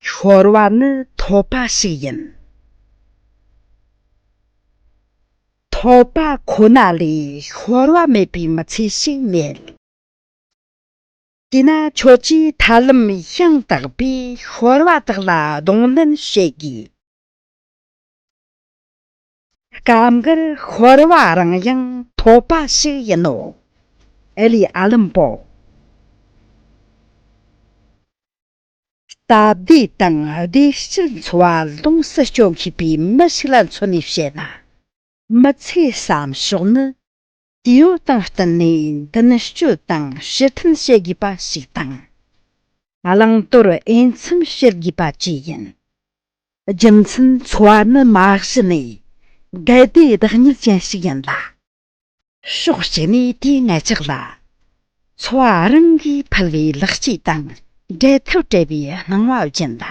ཤོར་བ་ནི་ཐོབ་པ་ཞིག་ཡིན། ཐོབ་པ་ཁོ་ན་ལས་ཤོར་བ་མེད་པའི་མི་ཚེ་ཞིག་མེད། དེས་ན་ཁྱོད་ཀྱིས་ཐབས་ལམ་ཤིང་དག་པས་ཤོར་བ་དག་ལ་གདོང་ལེན་བྱེད་དགོས། སྐབས་འགར་ཤོར་བ་རང་ཡང་ཐོབ་པ་ཞིག་ཡིན་ནོ། ཨེ་ལི་ཨ་ལིམ་པོ། སྟབས་བདེ་དང་བདེ་སྐྱིད་འཚོ་བ་ལོངས་སུ་སྤྱོད་ཤེས་པའི་མི་ཞིག་ལ་མཚོན་ནས་བཤད་ན། མི་ཚེའི་བསམ་ཕྱོགས་ནི་ཡོ་བདག་བསྟུན་ནས་མདུན་སྐྱོད་དང་ཕྱི་མཐུན་བྱེད་དགོས་པ་ཞིག་དང། བླང་དོར་དབྱེ་མཚམས་བྱེད་དགོས་པ་བཅས་ཡིན། རྒྱུ་མཚན་འཚོ་བ་ནི་མ་གཞི་ནས་འགལ་ཟླའི་བདག་ཉིད་ཅན་ཞིག་ཡིན་ལ། ཕྱོགས་གཅིག་ནས་དེའི་ངེད་ཅག་ལ་འཚོ་བ་རང་གིས་ཕུལ་བའི་ལེགས་སྐྱེས་དང་འབྲལ་ཐབས་བྲལ་བའི་སྣང་བ་སྦྱིན་ལ།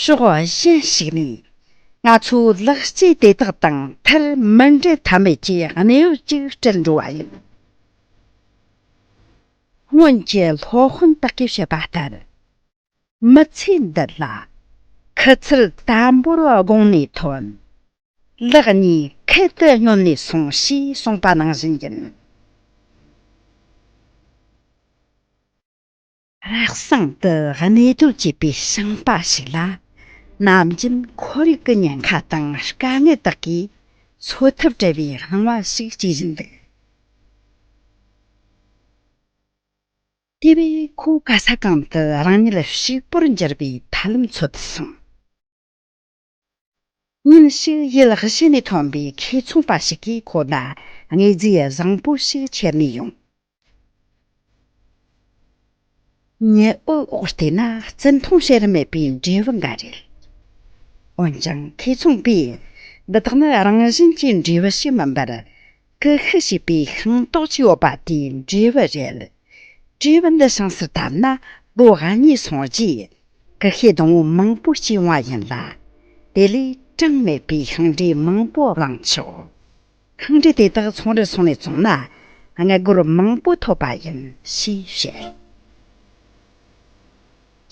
ཤོག་གཞན་ཞིག་ནི། ང་ཚོ་ལག་སྐྱེས་དེ་དག་དང་ཐལ་མོ་འབྲེལ་ཐབས་མེད་ཀྱི་གནས་བབ་ཅིག་སྤྲད་འགྲོ་བ་ཡིན། སྔོན་གྱི་ལྷོ་དཔོན་པ་ཀིར་བཤད་པ་ལྟར། མི་ཚེ་འདི་ལ་ཁུ་ཚུར་དམ་པོར་དགོངས་ནས་ཐོན། ལག་གཉིས་ཁུ་དུ་སྙོམས་ནས་སོང་ཞེས་གསུངས་པ་ནང་བཞིན་ཡིན། རག་བཟང་དུ་གནས་སྡོད་བྱེད་པའི་ཞིང་པ་ཞིག་ལ། ནམ་རྒྱུན་ཁོར་ཡུག་གི་ཉེན་ཁ་དང་དཀའ་ངལ་དག་གིས་འཚོ་ཐབས་བྲལ་བའི་རང་དབང་ཞིག་སྐྱེ་བཞིན་འདུག། དེ་བས་ཁོ་ག་ས་གང་དུ་རང་ཉིད་ལ་ཕྱུག་པོར་འགྱུར་བའི་ཐབས་ལམ་འཚོལ་དུ་སོང། ཉིན་ཞིག་ཡུལ་གཞན་ནས་ཐོན་པའི་ཁེ་ཚོང་པ་ཞིག་གིས་ཁོ་ལ་དངོས་རྫས་བཟང་པོ་ཞིག་ཁྱེར་ནས་ཡོང། ཉི་འོད་འོག་བལྟས་ན་བརྩི་མཐོང་བྱེད་རིན་མེད་པའི་འབྲས་བུ་འགའ་རེད། འོན་ཀྱང་ཁེ་ཚོང་པས་འདི་དག་ནི་རང་བཞིན་གྱི་འབྲས་བུ་ཞིག་མིན་པར། ཀ་ཁ་ཞེས་པའི་ཤིང་ཏོག་ཅིག་ཡོད་པ་དེ་འབྲི་བ་རེད། འབྲི་བ་འདི་ཤང་སར་བཏབ་ན་ལོ་ག་གཉིས་སོང་རྗེས་ཀ་ཁའི་སྡོང་བོ་མང་པོ་བྱུང་བ་ཡིན་ལ། དེ་ལས་གྲངས་མེད་པའི་ཤིང་འབྲས་མང་པོ་བླངས་ཆོག། ཤིང་འབྲས་དེ་དག་ཚོང་རར་སོང་ནས་བཙོང་ན་ལྔ་སྒོར་མང་པོ་ཐོབ་པ་ཡིན་ཞེས་བཤད།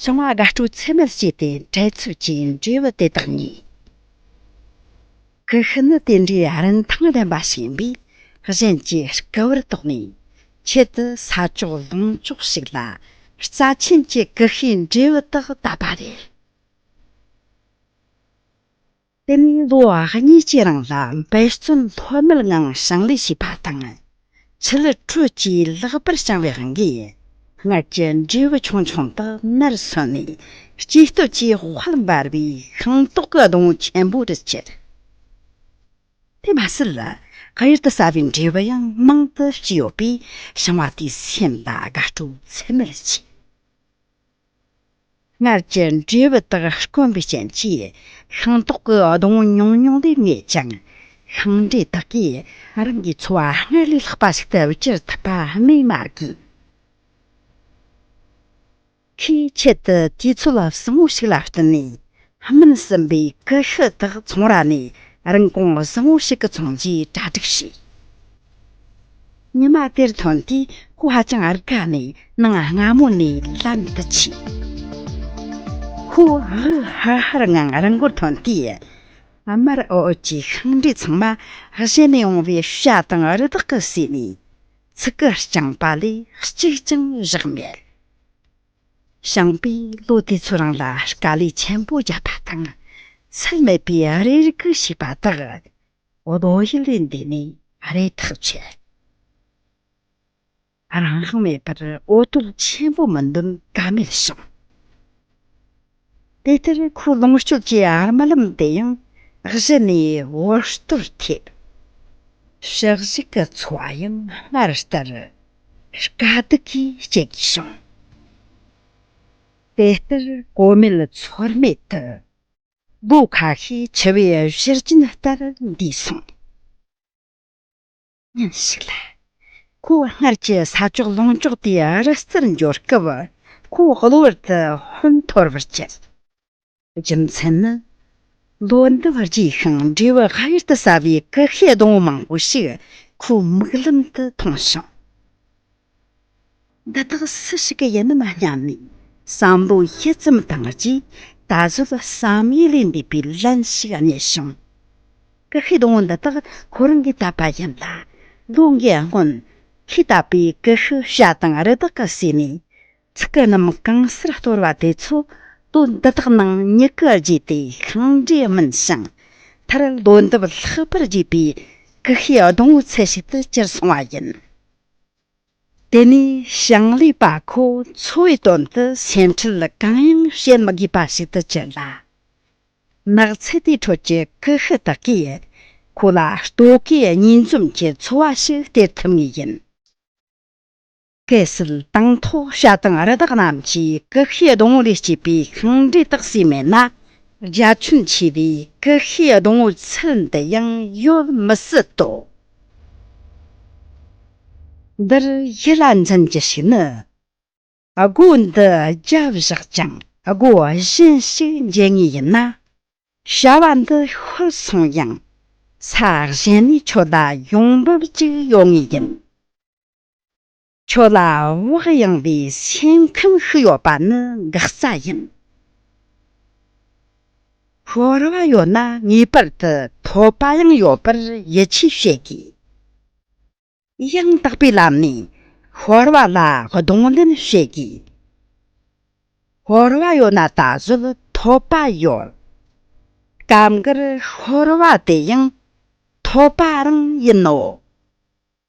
ཤིང་བ་དགའ་སྤྲོ་ཚད་མེད་བྱས་ཏེ་འཕྲལ་ཚུགས་ཀྱི་འབྲས་བུ་དེ་དག་ཉོས། ཀུ་ཤུ་ནི་དེ་འདྲའི་རིན་ཐང་ལྡན་པ་ཞིག་ཡིན་པས་གཞན་གྱིས་སྐུ་བར་དོགས་ནས་ཆེད་དུ་ས་ཅོག་ལོང་ཅོག་ཞིག་ལ་རྩ་ཆེན་གྱི་ཀུ་ཤུའི་འབྲས་བུ་དག་བཏབ་པ་རེད། དེ་ནས་ལོ་གཉིས་ཀྱི་རིང་ལ་འབད་བརྩོན་ལྷོད་མེད་ངང་ཞིང་ལས་བྱས་པ་དང། ཕྱི་ལ་ཁྲོ་གཅིག་ལྷག་པར་བཤང་བའི་རང་གི་ཡིན། སྔར་གྱི་འབྲས་བུ་ཆུང་ཆུང་དག་ནར་སོན་ནས། སྐྱེས་སྟོབས་ཀྱི་དཔལ་ལ་འབར་བའི་ཤིང་ཏོག་གི་གདོང་ཆེན་པོ་རུ་གྱུར། དེ་མ་ཟད་ཁ་ཡུར་དུ་ཟ་བའི་འབྲས་བུ་ཡང་མང་དུ་སྐྱེས་ཡོད་པས་བཤང་བ་དེའི་སེམས་ལ་དགའ་སྤྲོ་ཚད་མེད་ལ་སྐྱེས། སྔར་གྱི་འབྲས་བུ་དག་དཀོན་པའི་རྐྱེན་གྱིས། ཤིང་ཏོག་གི་སྡོང་བོ་ཉུང་ཉུང་དེ་ངེས་ཀྱང། ཤིང་འབྲས་དག་གིས་རང་གི་འཚོ་བ་སྔར་ལས་ལྷག་པ་ཞིག་ཏུ་བསྐྱུར་ཐུབ་པ་སྨོས་མ་དགོས། ཁོས་ཆེད་དུ་དུས་ཚོད་བཟང་བོ་ཞིག་ལ་བསྟུན་ནས། སྨིན་ཟིན་པའི་ཀུ་ཤུ་དག་ཚོང་ར་ནས་རིན་གོང་བཟང་བོ་ཞིག་གི་ཚོང་རྒྱུའི་གྲ་སྒྲིག་བྱས། ཉི་མ་དེར་ཐོན་དུས་སྐུ་ཧ་ཅང་རེ་དགའ་ནས་སྣང་སྔ་མོ་ནས་ལམ་དུ་ཆས། ཧུའུ་ཝུའུ་ཧ་ཧར་ངང་རང་སྒོར་ཐོན་དུས། དམར་འོད་ཀྱི་ཤིང་འབྲས་ཚང་མ་གཞན་ནས་འོང་བའི་ཤ་དང་རི་དྭགས་ཀྱི་ཟས་ནས་ཚིག་གི་རྐྱང་པ་ལས་གཅིག་ཀྱང་བཞག་མེད། ཞིང་པས་ལོ་དེ་ཚོ་རང་ལ་དཀའ་ལས་ཆེན་པོ་བརྒྱབ་པ་དང་ཚད་མེད་པའི་རེ་སྒུག་བྱས་པ་དག་འོ་དོ་ཧི་ལི་འདི་ནི་ཨ་རའི་ཐག་ཆོད། རང་མེད་པར་འོ་དོ་ཆེན་པོ་མི་འདུན་ཀ་མེད་བྱུང། དེ་ལྟར་ཁོའི་ལོངས་སྤྱོད་ཀྱི་ཨར་མ་ལམ་དེ་ཡང་གཞི་ནས་འོ་དོར་ཐེབས། ཕྱག་བཞི་གི་འཚོ་བ་ཡང་སྔར་ལྟར་དཀའ་སྡུག་གིས་སྐྱེལ་དགོས་བྱུང། དེ་ལྟར་གོ་མེད་ཚོར་མེད་དུ་སྦུ་ག་ཧེ་བྱ་བའི་ཤེར་ཕྱིན་ལྟར་འདི་གསུངས། ཉིན་ཞིག་ལ། ཁོ་བོ་སྔར་གྱི་ས་ཕྱོགས་ལོངས་སྤྱོད་དེ་རི་རྩེར་འབྱོར་སྐབས་ཁོ་བོ་གློ་བུར་དུ་ཧོན་འཐོར་བར་བྱེད། རྒྱུ་མཚན་ནི། ལོ་འདི་བར་རྒྱས་ཤིང་འབྲས་བུ་ཧ་ཡུལ་དུ་ཟ་བའི་ཀྵི་ཤའི་སྡོང་བོ་མང་པོ་ཞིག་ཁོའི་མིག་ལམ་དུ་མཐོང་ཞིང། འདི་དག་སུ་ཞིག་གི་ཡིན་ནམ་སྙམ་ནས་བསམ་བློ་ཞིབ་ཙམ་བཏང་རྗེས་ད་གཟོད་བསམ་ཡུལ་ལས་འདས་པའི་ལན་ཞིག་རྙེད་བྱུང། ཀུ་ཤུའི་སྡོང་བོ་འདི་དག་ཁོ་རང་གིས་བཏབ་པ་ཡིན་ལ། ལོ་འགའི་སྔོན་ཁོས་བཏབ་པའི་ཀུ་ཤུ་བྱ་དང་རི་དྭགས་ཀྱི་ཟས་ནི་ཚིག་གི་རྣམ་གྲངས་གསར་གཏོར་བ་དེ་ཚོ་དོན་འདི་དག་ནང་མྱུ་གུ་རྒྱས་ཏེ་ཤིང་འབྲས་སྨིན་ཞིང་མཐར་ལོ་འདབ་ལྷག་པར་རྒྱས་པའི་ཀུ་ཤུའི་སྡོང་བོའི་ཚད་ཞིག་ཏུ་གྱུར་སོང་བ་ཡིན། དེ་ནི་ཞིང་ལས་པ་ཁོ་ཚོའི་དོན་དུ་སེམས་ཁྲལ་གང་ཡང་བྱེད་མི་དགོས་པ་ཞིག་ཏུ་གྱུར་ལ། ནགས་ཚལ་དེའི་ཁྲོད་ཀྱི་ཀུ་ཤུ་དག་གིས་ཁོ་ལ་ལྟོ་གོས་གཉིས་འཛོམས་ཀྱི་འཚོ་བ་ཞིག་སྟེར་ཐུབ་ངེས་ཡིན། གལ་སྲིད་དང་ཐོག་ཤ་དང་རི་དྭགས་རྣམས་ཀྱིས་ཀུ་ཤུའི་སྡོང་བོ་ལས་སྐྱེས་པའི་ཤིང་འབྲས་དག་ཟོས་མེད་ན། རྒྱ་ཁྱོན་ཆེ་བའི་ཀུ་ཤུའི་སྡོང་བོའི་ཚུལ་འདི་ཡང་ཡོད་མི་སྲིད་དོ། འདིར་ཡིད་ལ་འཛིན་གྱི་ཞིག་ནི། སྒོ་འདི་བརྒྱ་བཞག་ཀྱང་སྒོ་གཞན་ཞིག་འབྱེད་ངེས་ཡིན་ན། བྱ་བ་འདི་ཤུལ་སོང་ཡང་ས་གཞན་ནས་ཆོས་བདག་ཡོང་འབབ་ཅིག་ཡོང་ངེས་ཡིན། ཁྱོད་ལ་བག་ཡངས་པའི་སེམས་ཁམས་ཤིག་ཡོད་པ་ནི་འགག་རྩ་ཡིན། ཤོར་བ་ཡོད་ན་ངེས་པར་དུ་ཐོབ་པ་ཡང་ཡོད་པར་ཡིད་ཆེས་བྱེད་དགོས། ཡང་དག་པའི་ལམ་ནས་ཤོར་བ་ལ་གདོང་ལེན་བྱེད་དགོས། ཤོར་བ་ཡོད་ན་ད་གཟོད་ཐོབ་པ་ཡོད། སྐབས་འགར་ཤོར་བ་དེ་ཡང་ཐོབ་པ་རང་ཡིན་ནོ།